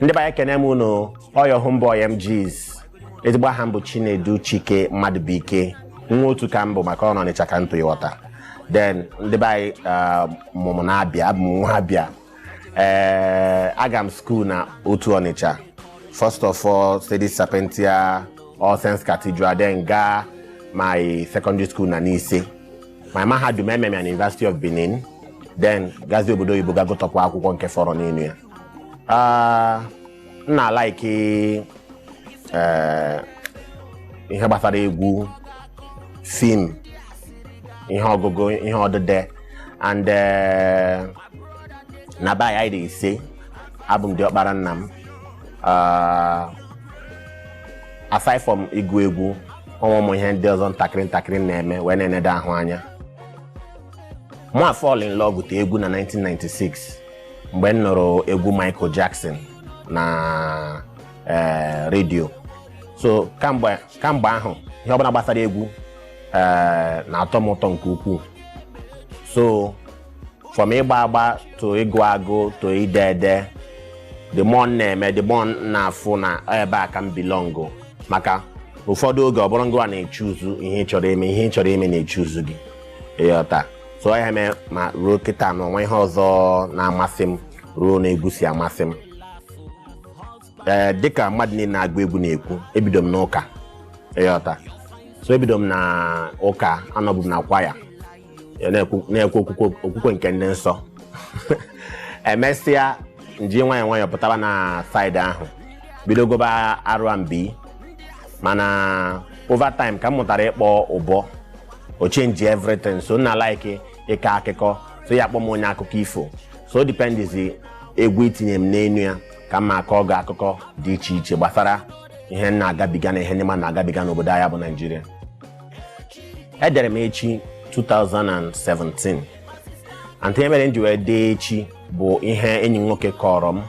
ndị be anyị kene m unu ọ your homeboy mjeez ezigbo aha m bụ chinedu chike mmadụbụike nwa otu ka m bụ maka ọ n'ọnịcha ka m to ịghọta then ndị be anyị ah, mụ m na abịa abụ m nwa abịa ee aga m school na otu ọnịcha first of all sedes sapientia all saints cathedral then gaa my secondary school na nise my mahadum eme m ya na university of benin then gazie obodo oyibo ga gụtụkwa akwụkwọ nke fọrọ n'elu ya Ah, m na-alaiki eh, ihe gbasara egwu film ihe ọgụgụ ihe odide and eh, na be anyị anyị dị ise abụ m diọkpara nna m Ah, aside from ịgụ egwu o nwe ụmụ ihe ndị ọzọ ntakịrị ntakịrị m na-eme wee na-enede ahụ anya mụ afall in love with egwu na 1996 mgbe m nụrụ egwu Michael Jackson na eh, redio so kamgbe kamgbe ahụ ihe ọbụla gbasara egwu eh, na-atọ m ụtọ nke ukwuu so from ịgba agba to ịgụ agụ to ide ede the more m na-eme the more m na-afụ na ebe a ka m belong maka ụfọdụ oge ọ bụrọ gịnwa na-echuzu ihe ị chọrọ ime ihe ị chọrọ ime na-echuzu gị ịghọta so ya mee na ruo kịta na o nwee ihe ọzọ na-amasị m ruo na egwu si amasị m ee dịka mmadụ niile na-agụ egwu na-ekwu ebido m n'ụka ịghọta so ebido m na ụka anọbu m na kwaya na-ekwe na-ekwe okwukwe okwukwe nke ndị nsọ emesịa m ji nwayọọ nwayọọ pụtaba na side ahụ bido gụba R&B mana over time ka m mụtara ịkpọ ụbọ o chenji everything so m na-alaiki ịkọ akụkọ so ị ya-akpọ m onye akụkọ ifo so o dipendizi egwu i tinye m n'enu ya ka m ma akọ gị akụkọ dị iche iche gbasara ihe m na-agabiga na ihe ndị mmadụ na-agabiga n'obodo anyị bụ naijiria edere m echi 2017 and ihe mere m ji wee dee echi bụ ihe enyi m nwoke kọrọ m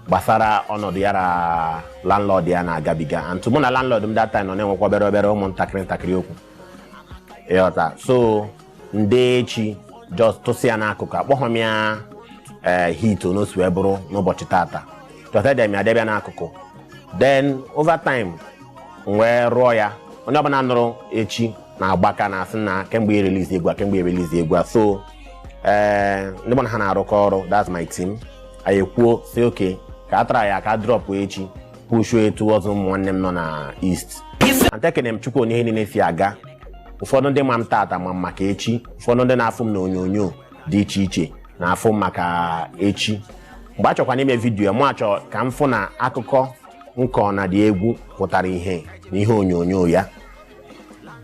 gbasara ọnọdụ ya na landlord ya na-agabiga and mụ na landlord m that time nọ na-enwekwa obere obere ụmụntakịrị ntakịrị okwu ịghọta so m dee echi just tụsa ya n'akụkụ akpọghọ m ya ee hit onosi wee bụrụ n'ụbọchị tata just ede m ya debe ya n'akụkụ then over time m wee rụọ ya onye ọbụla nụrụ echi na-agbaka na-asị nna kee mgbe ị ya release egwu a kee mgbe ị ya release egwu a so ee ndị mụ na ha na-arụkọ ọrụ that's my team anyị ekwuo sị okay ka a traịa ka a drọpụ echi pushuo ya towards ụmụ nwanne m nọ na east and ekene m chukwu one ihe niile si aga ụfọdụ ndị ma m tata ma m maka echi ụfọdụ ndị na-afụ m na onyonyo dị iche iche na-afụ m maka echi mgbe a chọkwana ime vidiyo mụ achọ ka m fụ na akụkọ m kọ na the egwu pụtara ihe na ihe onyonyo ya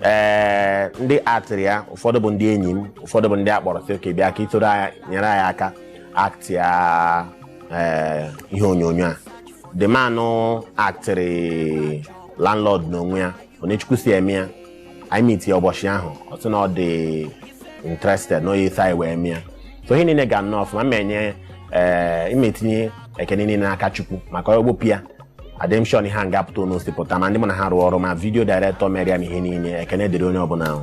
ee ndị aktịrị ya ụfọdụ bụ ndị enyi m ụfọdụ bụ ndị a kpọrọ sị okay bịa ka i soro anyị nyere anyị aka aktị ya ee ihe onyonyo a the man aktịrị landlord n'onwe ya one chukwu si eme ya anyị miti ya ụbọchị ahụ ọ sị na ọ dị interested na ọ ya-eso anyị wee mee ya so ihe niile ga nnọọ ọfụma ma enye ee m etinye ekene niile n'aka chukwu maka e bupụ ya adịghị m sure na ihe a ga-apụta one o si pụta ma ndị mụ na ha rụọ ọrụ ma vidio director mere ya na ihe niile ekene dịrị onye ọbụla ahụ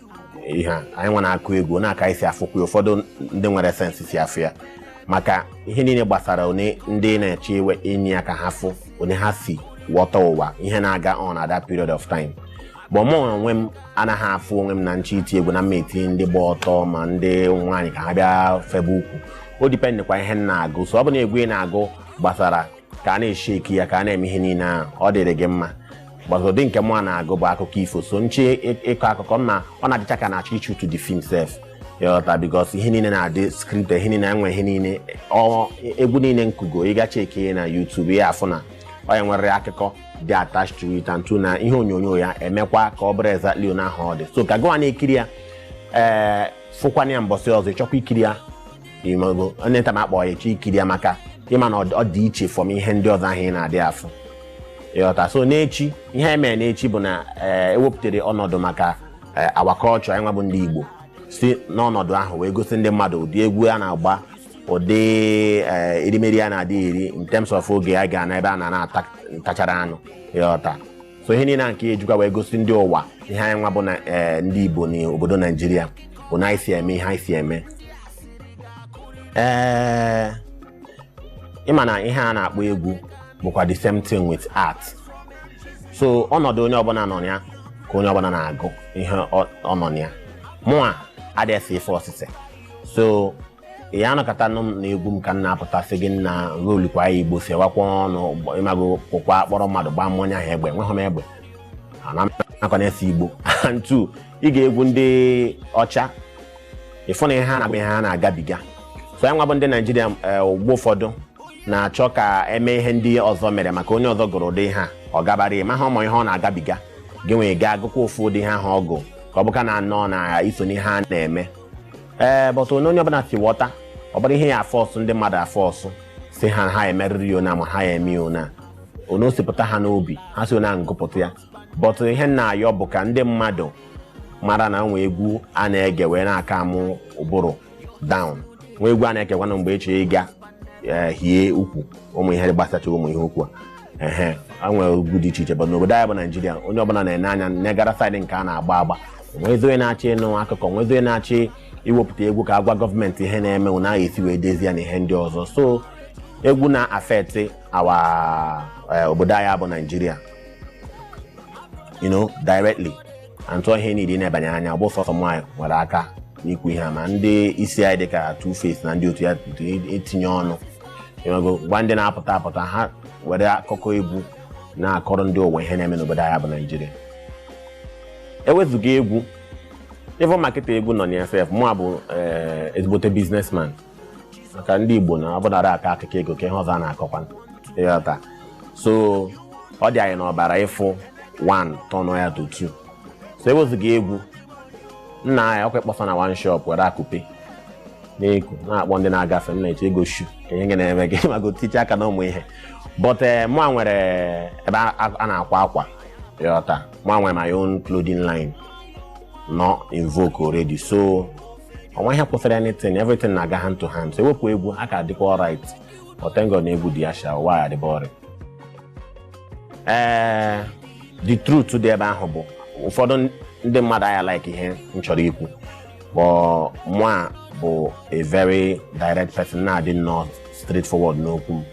ihe a anyị nwa na-akụ egwu na-aka isi afụkwu ya ụfọdụ ndị nwere sense si afụ ya maka ihe niile gbasara one ndị na-eche iwe inye aka ha fụ one ha si ghọta ụwa ihe na-aga on at that period of time but mụ onwe m anaghị afụ onwe m na m chọ iti egwu na m ma etinye ndị gba ọtọ ma ndị nwaanyị ka ha bịa febe ukwu o dipendịkwa ihe m na-agụ so ọ bụ na egwu ị na-agụ gbasara ka a na-esheki ya ka a na-eme ihe niile ahụ ọ dịrị gị mma but ụdị nke mụ a na-agụ bụ akụkọ ifo so m chọ ịkọ akụkọ m na ọ na-adịcha ka a na-achọ ị shoot the film sef ịghọta because ihe niile na-adị script ihe niile enwe ihe niile ọ egwu niile m kụgo ị gaa cheki ya na YouTube ị ya afụ na ọ ya nwere akụkọ dị attached to it and two na ihe onyonyo ya emekwa ka ọ bụrụ exactly one ahụ ọ dị so ka gụwa na-ekiri ya ị fụkwana ya mbọsị ọzọ ịchọkwa ikiri ya ịmago onye nta ma akpọ ya echi ikiri ya maka ịma na ọ dị iche from ihe ndị ọzọ ahụ ị na-adị afụ ịghọta so n'echi ihe anyị mere n'echi bụ na eh, ewepụtara ọnọdụ maka eh, our culture anyị nwa bụ ndị Igbo si n'ọnọdụ ahụ wee gosi ndị mmadụ ụdị egwu a na-agba ụdị eh, erimeri a na-adị eri in terms of oge a ga na ebe a na na-ata ntachara anụ ịghọta so ihe niile a nke ejikwa wee gosi ndị ụwa ihe anyị nwa bụ na eh, ndị igbo na obodo naijiria bụ one anyị si eme ihe anyị si eme ee ịma na ihe a na-akpọ egwu bụkwa the same thing with art so ọnọdụ onye ọbụla nọ na ya ka onye ọbụla na-agụ ihe ọ ọ nọ na ya mụa adịghị ife osise so ị ya anọkata nụ m na egwu m ka m na-apụta sị gị na rolikwa ya igbo sewakwa ọnụ gbọ- ịmago pụkwa kpọrọ mmadụ gbaa mmụọ onye ahụ egbe enweghị m egbe anaghịkwa m ese igbo and two ị gaa egwu ndị ọcha ịfụ na ihe ha na-agụ bụ ihe ha na-agabiga so anyị nwa bụ ndị naijiria eh, mgbe ụfọdụ na-achọ ka eme ihe ndị ọzọ mere maka onye ọzọ gụrụ ụdị ihe a ọ gabara ya maha ọ bụ ihe ọ na-agabiga gị nwa gaa agụkwa ofu ụdị ihe ahụ ọ gụ ka ọ bụkwanụ na iso n'ihe a na-eme ee but ona onye ọbụla si ghọta ọ bụrụ ihe ya afọsụ ndị mmadụ afọsụ sị ha ha emerịrị ya ona ma ha ya eme ya ona ona o si pụta ha n'obi ha si ona gụpụta ya but ihe m na-ayọ bụ ka ndị mmadụ mara na nwe egwu a na-ege wee na-akaamụ ụbụrụ down nwe egwu a na-egekwanụ mgbe a chọ ịga ee hie ukwu ụmụ ihe gbasacha ụmụ ihe ukwu a ehe e nwere egwu dị iche iche but n'obodo anyị bụ naijiria onye ọbụla na-ene anya negara saịdị nke a na-agba agba onwezi onye na-achọ ịnụ akụkọ onwezi onye na-achọ iwepụta egwu ka agwa gọọmenti ihe na-eme ụna ahụ esi wee dezie na ihe ndị ọzọ so egwu na-affect our obodo anyị bụ naijiria you know directly and too ihe niile na-ebanye anya ọ bụ sọsọ mụ a nwere aka n'ikwu ihe a ma ndị isi anyị dịka Two Face na ndị otu ya etinye ọnụ ịmago gwa ndị na-apụta apụta ha were akụkọ egwu na-akọrọ ndị ụwa ihe na-eme n'obodo anyị bụ Naijiria ewezuga egwu even ma kịta egwu nọ na sef mụ a bụ eh, ezigbote biznesman maka ndị Igbo na ọ bụnara akọ akụkọ ego kee ihe ọzọ a na-akọkwa ịghọta so ọ dị anyị n'ọbara ịfụ 1 tọnụ ya to 2 so ewezuga egwu nna anyị ọkwa ị kpọsa na one shop were akụpe na-eku na-akpọ ndị na-agafe m na-eche ego shu ka ihe na-eme ịmago otiche aka na ụmụ ihe but eh, mụ a nwere ebe a a na-akwa akwa ịghọta mụ a nwere my own clothing line nọ in vogue already so onwe ihe kwụsịrị anything everything na-aga hand to hand so ewepụ egwu a ka adịkwa alright but thank God na egwu dị ya sha ụwa ya-adị boring ee the truth dị ebe ahụ bụ ụfọdụ ndị mmadụ aya like ihe m chọrọ ikwu but mụ a bụ a very direct person na-adị nnọọ straight forward n'okwu m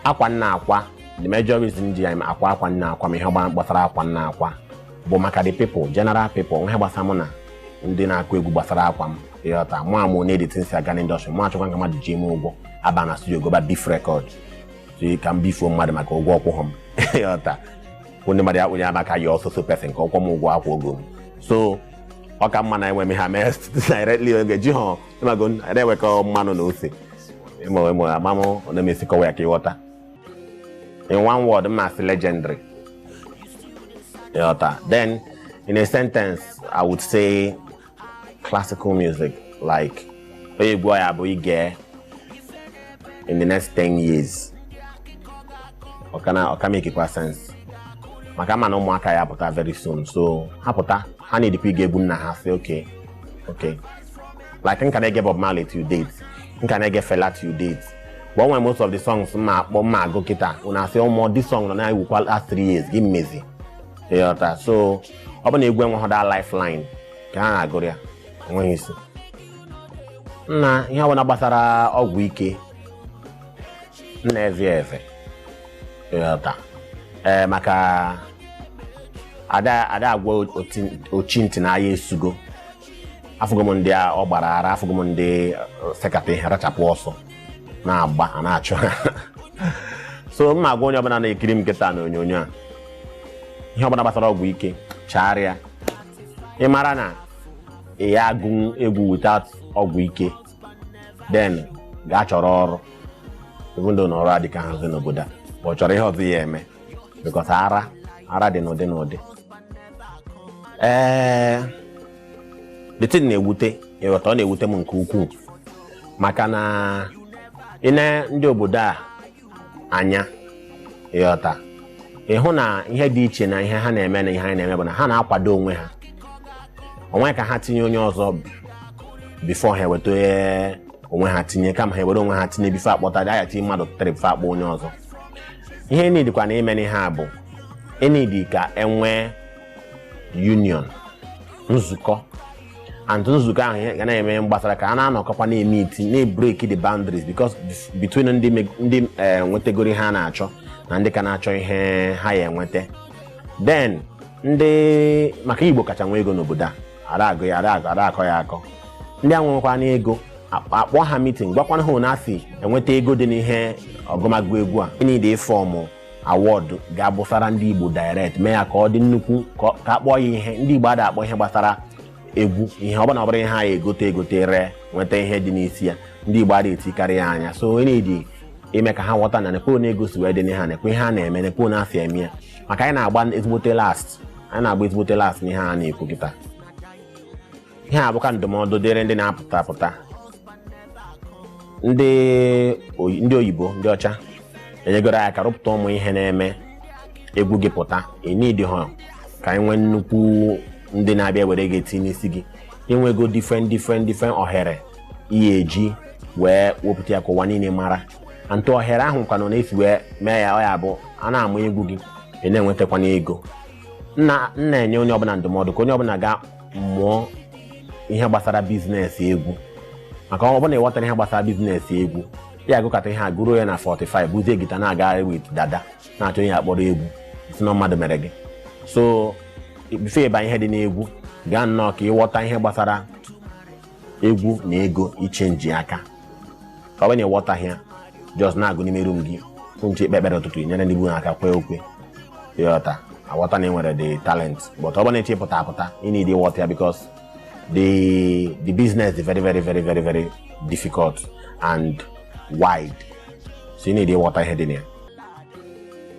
akwa m na-akwa the major reason ji anyị akwa akwa m na-akwa ma ihe gbasara akwa m na-akwa bụ maka the people general people ihe gbasara mụ na ndị na-akụ egwu gbasara akwa m ịghọta mụ ama ona the thing si aga n'indọstrị mụ achọkwa ka mmadụ ji m ụgwọ aba na studio gụba beef record si ka m bifuo mmadụ maka ụgwọ ọ kwụghọ m ịghọta kwụ ndị mmadụ ya kpụnye ama ka ya so so person ka ọ kwụọ m ụgwọ akwụ ogo m so ọ ka mma na enwe m ha mee directly oge ji ha ịmago na-ewekọ mmanụ na ose ịmụ ịmụ amamụ na-emesi kọwa ya ka ịghọta in one word m ma-asị legendary ịghọta then in a sentence i would say classical music like onye egwu ya-abụ i gee in the next 10 years ọ ka na ọ ka-emekikwa sense maka m ma na ụmụaka ya-apụta very soon so ha pụta ha needikwa ige egwu nna ha sị okay okay like m ka na-ege Bob Marley to date m ka na-ege Fela to date but when most of the songs ma akpọ ma agụ kịta unu asị ụmụ oh, this song nọ na-ewukwa last three years gịnị mezi ịghọta so ọ bụ na egwu enweghị that lifeline ka ha na-agụrụ ya enweghị isi na ihe ọbụla gbasara ọgwụ ike m na-eze eze ịghọta ee eh, maka ada agwa ochi ntị na aya esugo afụgo m ndị ọ gbara ara afụgo m ndị uh, sekata ihe rachapụ ọsọ na-agba a na-achụ ha so m na-agwa onye ọbụla na-ekiri m kịta na onyonyo a ihe ọbụla gbasara ọgwụ ike chaara ya ị mara na ị ya agụ egwu without ọgwụ ike then gaa chọrọ ọrụ even though na ọrụ adịkahazi n'obodo a chọrọ ihe ọzọ ị ya eme because ara ara dị n'ụdị n'ụdị ee the thing na-ewute ịghọta ọ na-ewute m nke ukwuu maka na i nee ndị obodo a anya ịghọta ị hụ na ihe dị iche na ihe ha na-eme na ihe anyị na-eme bụ na ha na-akwado onwe ha o nwe ka ha tinye onye ọzọ before ha eweta onye onwe ha tinye kama ha ewere onwe ha tinye before akpọta dị aya tinye mmadụ tụtara before akpọ onye ọzọ ihe enidikwanụ ime n'ihe a bụ enidi ka enwee union nzukọ and nzukọ ahụ ihe ga na-eme ihe gbasara ka a na-anọkọkwa na-emeet na-ebreak the boundaries because between ndị me- ndị eh, nwetegoro ihe a na-achọ na ndị ka na-achọ ihe ha ya enweta then ndị maka Igbo kacha nwe ego n'obodo a ara agụ ya ara agụ ara akọ ya akọ ndị a nwekwana ego akpọ akpọ ha meeting gwakwana ha na esi enweta ego dị n'ihe ọgụmagụ egwu a enidi ịform award ga-abụsara ndị Igbo direct mee ya ka ọ dị nnukwu ka ọ- ka akpọọ ya ihe ndị Igbo ada akpọ ihe gbasara egwu ihe ọ bụla ọ bụrọ ihe a ya egote egote ree nweta ihe dị n'isi ya ndị Igbo ada etikarị ya anya so enidi ime ka ha ghọta na nekwe na ego si wee dị n'ihe a nekwe ihe a na-eme nekwe na esi eme ya maka anyị na-agba ezigbote last anyị na-agba ezigbote last n'ihe a na-ekwu kịta ihe a bụkwa ndụmọdụ dịrị ndị na-apụta apụta ndị oyi- ndị oyibo ndị ọcha enyegoro aka rụpụta ụmụ ihe na-eme egwu gị pụta enidi ha ka anyị nwee nnukwu ndị na-abịa were gị etinye n'isi gị i nwego different different different ohere ị ya eji wee wepụta ya ka ụwa niile mara ntụ ohere ahụ kwanụ na-esi wee mee ya ọ ya bụ a na-ama egwu gị ị na-enwetakwana ego m na m na-enye onye ọbụla ndụmọdụ ka onye ọbụla gaa mụọ ihe gbasara biznes egwu maka ọ bụrụ na ị ghọtara ihe gbasara biznes egwu ị ya-agụkata ihe a gụruo ya na 45 buzie gita na-agagharị wit dada na-achọ onye akpọrọ egwu ị sị na mmadụ mere gị so bifo ị ba ihe dị n'egwu gaa nnọọ ka ị ghọta ihe gbasara egwu na ego ichenji aka ka ọ bụ na ị ghọtaghị ya jọs na-agụ n'ime rum gị unu chọọ ikpe ekpere ụtụtụ nyere ndị be unu aka kwee ukwe ị ghọta aghọta na ị nwere the talent but ọ bụ na ị chọ ịpụta apụta ị need ịghọta ya because the the business is very very very very very difficult and wide so ị need ịghọta ihe dị na ya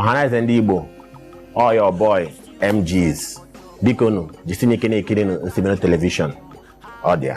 ọhaneze ndị igbo ọ your boy mgs biko nụ jisienụ ike na-ekiri nụ isimbido telivishọn ọ dị ya